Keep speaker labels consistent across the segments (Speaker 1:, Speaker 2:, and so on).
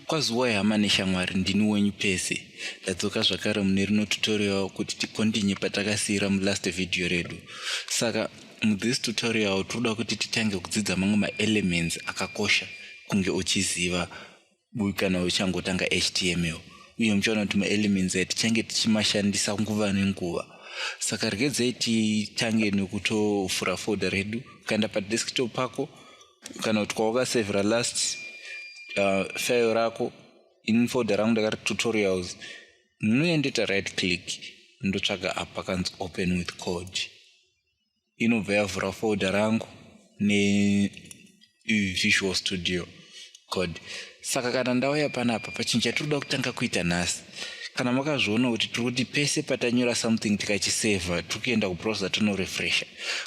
Speaker 1: kwazuwai hama neshamwari ndini wenyu pese ndadzoka zvakare mune rino tutorial kuti tikondinye patakasiyira mulast vhidhiyo redu saka muthis tutorial tinoda kuti titange kudzidza mamwe maelements akakosha kunge uchiziva uyu kana uchangotanga html uye muchaona kuti maelements aya tichange tichimashandisa nguva nenguva saka regedzai titange nekutovhura folder redu ukaenda padesktop pako kana kuti kwawakasevhera last uh, file rako in folder rangu ndakati tutorials munoendeta right click ndotsvaga apa kanzi open with code inobva yavhura folder rangu nevisual studio code saka kana ndauya panapa pachinhu chatinoda kutanga kuita nhasi kana makazviona kuti tiri kuti pese patanyora something tikachiseva tiri kuenda kubrowser tonorefresha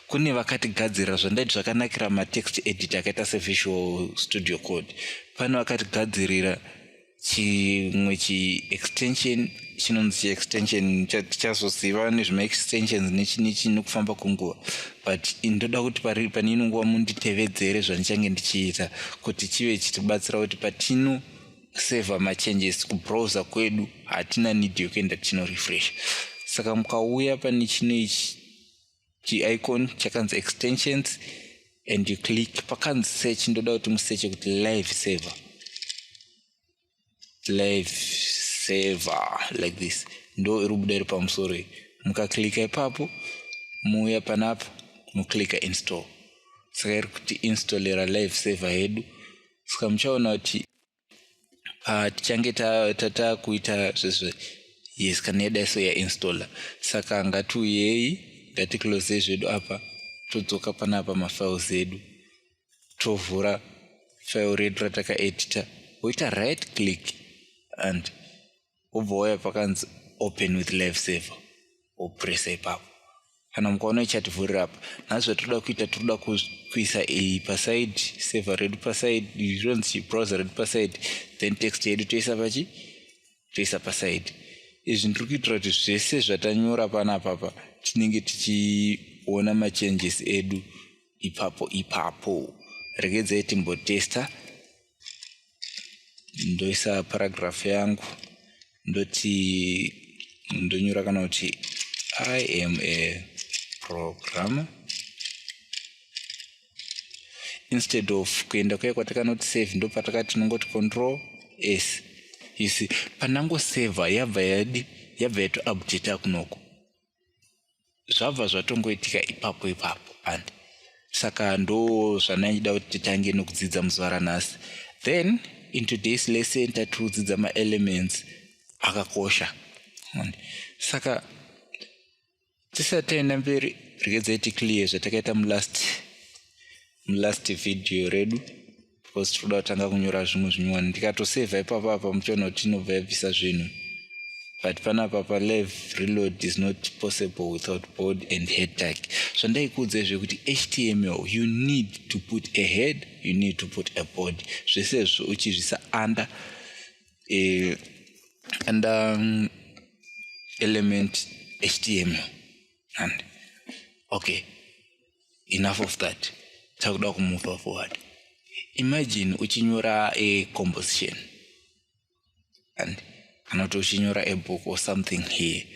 Speaker 1: kune vakatigadzirira zvandaiti zvakanakira matext edit akaita sevisual studio code pane vakatigadzirira chimwe chiextension chinonzi chiextension tichazoziva nezvemaextensions nechinichi nekufamba kwenguva but ndoda kuti pari pane ino nguva munditevedzere zvandichange ndichiita kuti chive chitibatsira kuti patino seva machanges kubrowser kwedu hatina need yokuenda tinorefresh saka mukauya pane chino ichi chiicon chakanzi extensions and you click pakanzi search ndoda kuti museche kuti live server live server like this ndo iri kubuda iri pamusoro iyi mukaklika ipapo muuya panapa muklika install saka iri kuti installera live server yedu saka muchaona kuti ah, tichange tatakuita zvezve yes kana yadai so yainstalla saka ngatiuyei ngaticlose zvedu apa todzoka panapa mafiles edu tovhura file redu ratakaedita woita right click and wobva wauya pakanzi open with life saver wopresa ipapo kana mukaona ichativhurira apa nhasi zvatoda kuita tinoda kuisa iyi paside saver redu paside ronzi browser redu paside then text yedu toisa pachi toisa paside izvi ndiri kuitira kuti zvese zvatanyora pana papa tinenge tichiona machanges edu ipapo ipapo regedzai timbotesta ndoisa paragraph yangu ndoti ndonyora kana kuti i am a programmer instead of kuenda kuya kwatakanoti save ndopatakati tinongoti control s you see pandangoseva yabva yadi yabva yato update akunoko zvabva zvatongoitika ipapo ipapo and saka ndo zvandaida kuti titange nokudzidza muzuva ranhasi then in today's lesson tatiudzidza maelements akakosha saka tisati taenda mberi regedzai ticlear zvatakaita mulast mulast video redu because tinoda kutanga kunyora zvimwe zvinyowani ndikatosevha ipapa apa muchiona kuti inobva yabvisa zvinhu but panapa palev reload is not possible without board and head tag zvandaikuudza izve kuti html you need to put a head you need to put a board zvese izvo uchizvisa under uh, under um, element html and okay enough of that takuda kumove forward imagine uchinyora a composition and kana kuti uchinyora a book or something here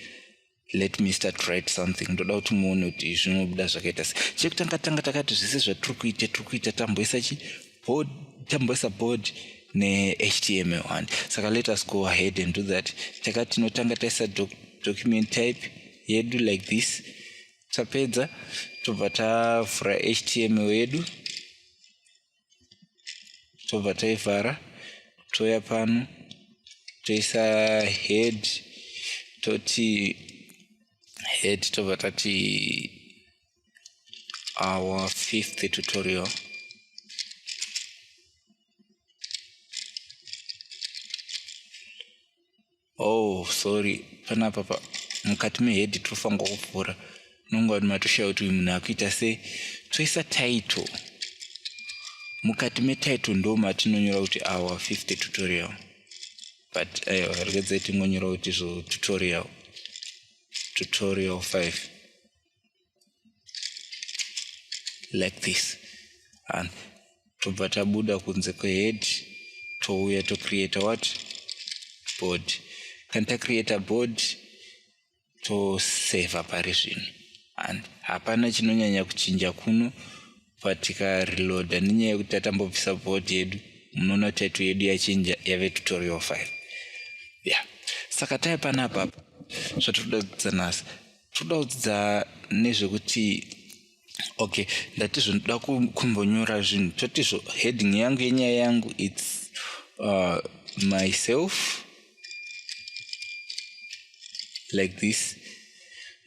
Speaker 1: let me start write something ndoda kuti muone kuti zvinobuda zvakaita se chekutanga tanga takati zvese zvatiri kuita tiri kuita tamboisa chi board tamboisa board nehtml and saka let us go ahead and do that takati tinotanga taisa doc, document type yedu like this tapedza tobva tavhura htm wedu tobva taivhara touya pano toisa head toti head tobva tati our fifth tutorial oh sorry panapa pa mukati mehedhi tinofanirwa kuvhura unonge vanhu matoshaya kuti uyu munhu akuita sei toisa title mukati metitle ndo matinonyora kuti our 50 tutorial but ayo eh, regedzai tingonyora kuti zvo tutorial tutorial 5 like this and tobva tabuda kunze kwehead touya tocreata what board kana tacreata board toseva pari zvino and hapana chinonyanya kuchinja kuno but tikareloada nenyaya yekuti tatambobvisa board yedu munoona title yedu yachinja yave tutorial file ya yeah. saka taipanapapa zvatiri kuda kudzanasa toda kudzidza nezvekuti okay ndati zvinoda kumbonyora zvinhu toti zvo heading yangu yenyaya yangu its uh, myself like this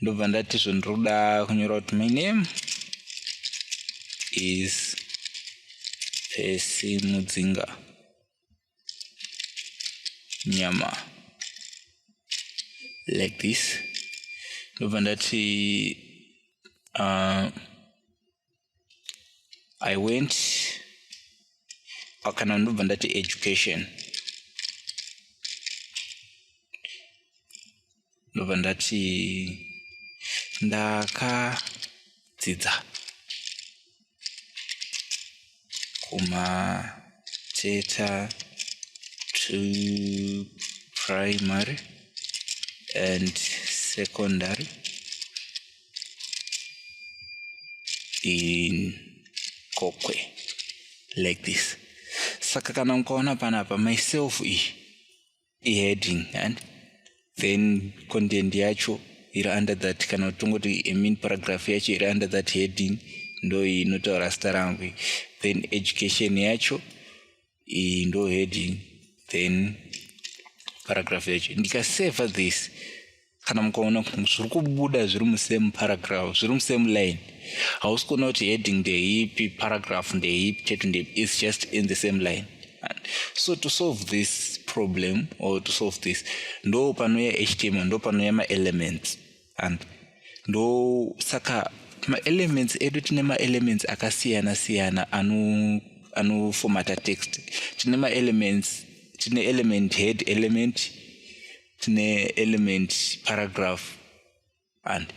Speaker 1: ndobva ndati zvo ndiri kuda kunyora kuti my name is pesi mudzinga nyama like this ndobva ndati uh, i went kana ndobva ndati education ndobva ndati ndakadzidza kumateta to primary and secondary in kokwe like this saka kana mukaona panapa myself iyi iheading and then content yacho iri under that kana kuti tongoti imean paragraph yacho iri under that heading ndo inotaura zita rangu then education yacho iyi ndo heading then paragraph yacho ndikaseva this kana mukaona zviri kubuda zviri musame paragraph zviri musame line hausi kuona kuti heading ndeipi paragraph ndeipi chete ndeipi is just in the same line And so to solve this problem or to solve this ndo panouya html ndo panouya maelements and ndo saka maelements edu tine maelements akasiyana siyana ano anofomata text tine maelements tine element head element tine element paragraph and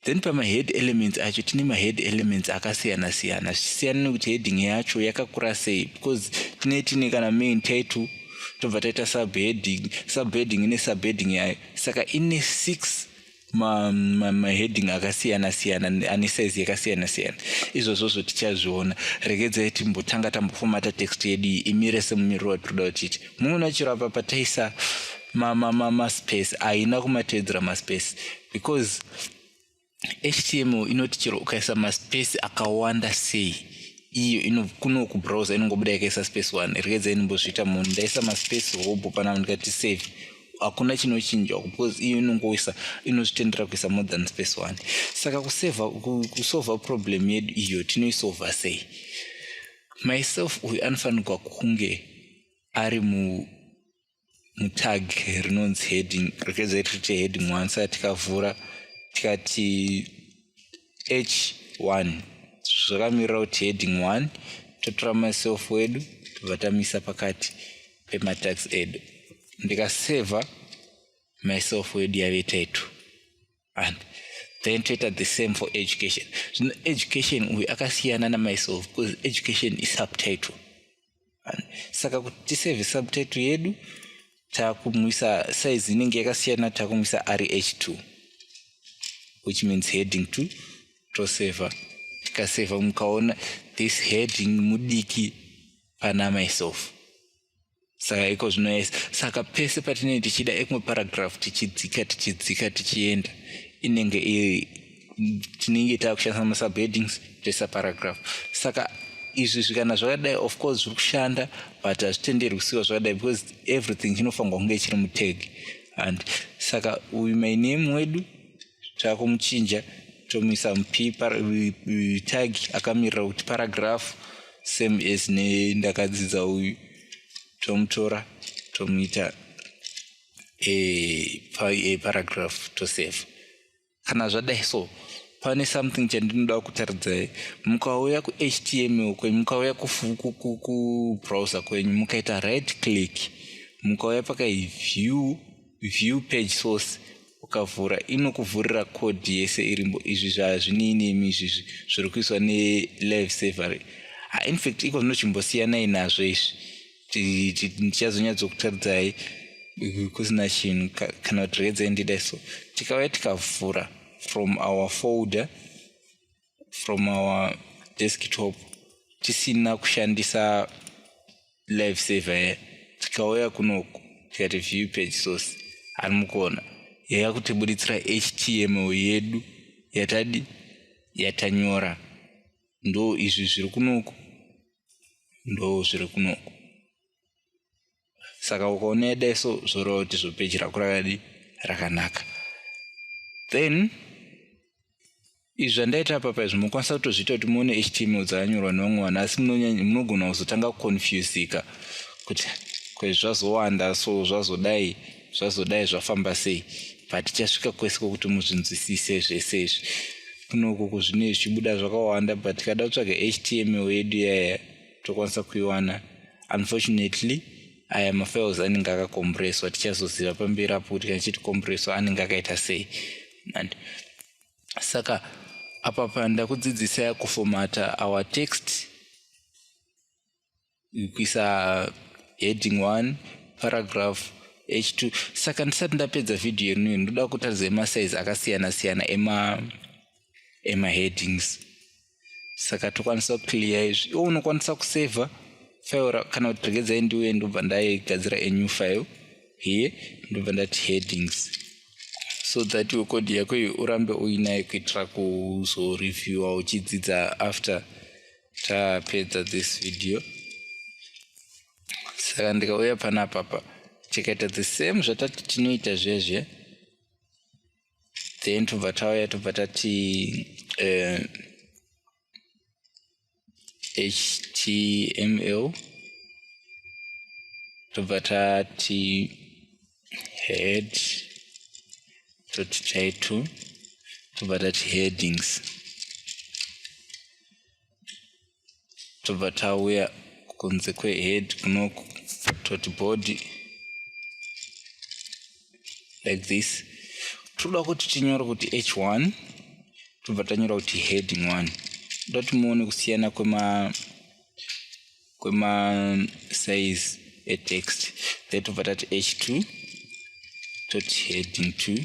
Speaker 1: then pamahead elements acho tine mahead elements akasiyana siyana zvichisiyana nekuti heading yacho yakakura sei because tine tine kana main title tobva taita subheading subheading ine subheading yayo saka ine six maheading ma, ma akasiyana siyana ane size yakasiyana siyana izvozvozvo tichazviona regedzai timbotanga tambofomata text yedu iyi imire semumiriro watinoda kutiti muona chero apa pataisa maspace haina kumatevedzera maspace because html inoti chero ukaisa maspace akawanda sei iyo ino kuno kubrowser inongobuda yakaisa space one regedzai ndimbozviita munhu ndaisa maspace hobho panavo ndikati save hakuna chinochinjwa because iyo inongoisa inozvitendera kuisa more than space one saka kuseva kusova problem yedu iyo tinoisova sei myself uyu anofanirwa kunge ari mu mutag rinonzi heading rikeza tirite heading one saka tikavhura tikati h one zvakamirira kuti heading one totora myself wedu tobva tamisa pakati ematax edu ndikaseva myself wedu yave taitu and then toita the same for education zvino education uyu akasiyana namyself because education isubtitle saka kuti tiseve subtitle yedu takumwisa size inenge yakasiyana takumwisa rh two which means heading two toseva tikaseva mukaona this heading mudiki pana myself saka iko zvino yes saka pese patinenge tichida ekumwe paragraph tichidzika tichidzika tichienda inenge iri tinenge taakushandisa masubheadings toisa paragraph saka izvi zvikana zvakadai of course zviri kushanda but hazvitenderwi kusiwa zvakadai because everything chinofanirwa kunge chiri muteg and saka uyu my name wedu takumuchinja tomuisa mupipa tag akamirira kuti paragraph same as nendakadzidza uyu tomutora tomuita e, pa, e, paragraph tosave kana zvadai so pane something chandinoda kutaridzai mukauya kuhtml kwenyu mukauya kubrowser kwenyu mukaita right click mukauya pakai view view page source ukavhura inokuvhurira code yese irimbo izvi zvazvinei nemi izvizvi zviri kuiswa nelive savery ah, infact iko zvinochimbosiyanai nazvo izvi ndichazonyatsokutaridzai kusina chinhu kana kuti redzai ndidai so tikauya tikavhura from our folder from our desktop tisina kushandisa live saver here tikauya kunoku tikati view page source ari mukona yaya kutibuditsira html yedu yatadi yatanyora ndo izvi zviri kunoku ndo zviri kunoku saka ukaoneda iso zvoreva kuti zvopeji rako rakadi rakanaka then izvi zvandaita papa izvi mokwanisa kutozviita kuti muone html dzakanyorwa nevamwe vanhu asi munogona kuzotanga kuconfusika kuti kwezvi zvazowanda so zvazodai zvazodai zvafamba sei but tichasvika kwese kwokuti muzvinzwisise zvese izvi kunoku kuzvine zvichibuda zvakawanda but tikada kutsvaga html yedu yaya tokwanisa kuiwana unfortunately aya mafiles anenge akakombureswa tichazoziva pamberi apo kuti kana chiti kombureswa anenge akaita sei and saka apa panda kudzidzisa kufomata our text kuisa heading one paragraph h2 saka ndisati ndapedza vhidhiyo yenuyo ndoda kutaridza emasize akasiyana siyana ema emaheadings saka tokwanisa kuclear izvi iwo unokwanisa kusaver file kana kuti regedzai ndiuye ndobva ndaigadzira anew file here ndobva ndati headings so that iwe code yako iyi urambe uinayo kuitira kuzoreviewa uchidzidza after tapedza this video saka ndikauya panapapa tikaita the same zvatati tinoita zviya zviya then tobva tauya tobva tati eh, html tobva tati head dot title tobva tati headings tobva tauya kunze kwehead kunoku toti body like this toda kuti tinyore kuti h1 tobva tanyora kuti heading 1 toda kuti muone kusiyana kwema kwema size etext then tobva tati h2 toti heading 2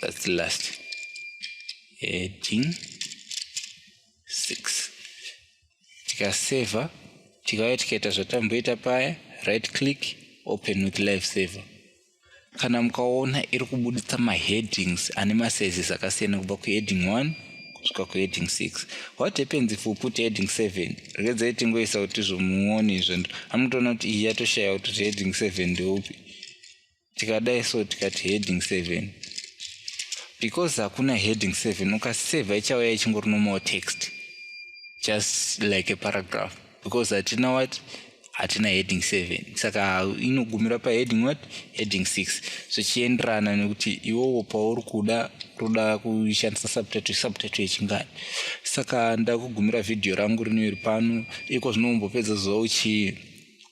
Speaker 1: that's the last heading 6 tikaseva tikauya tikaita zvatamboita paya right click open with live saver kana mukaona iri kubuditsa maheadings ane masizes akasiyana kubva kuheading 1 kusvika kuheading 6 what happens if uput heading 7 regedzai tingoisa kuti zvomuone izvo amutoona kuti iyi yatoshaya kuti heading 7 ndeupi tikadai so tikati heading seven because hakuna heading seven ukaseva ichauya ichingori normal text just like a paragraph because hatina what hatina heading seven saka inogumira paheading what heading six zvichienderana nekuti iwowo pauri kuda kuda kushandisa subtitle subtitle yechingani saka ndakugumira vhidhiyo rangu rinoiri pano iko zvinombopedza zuva uchii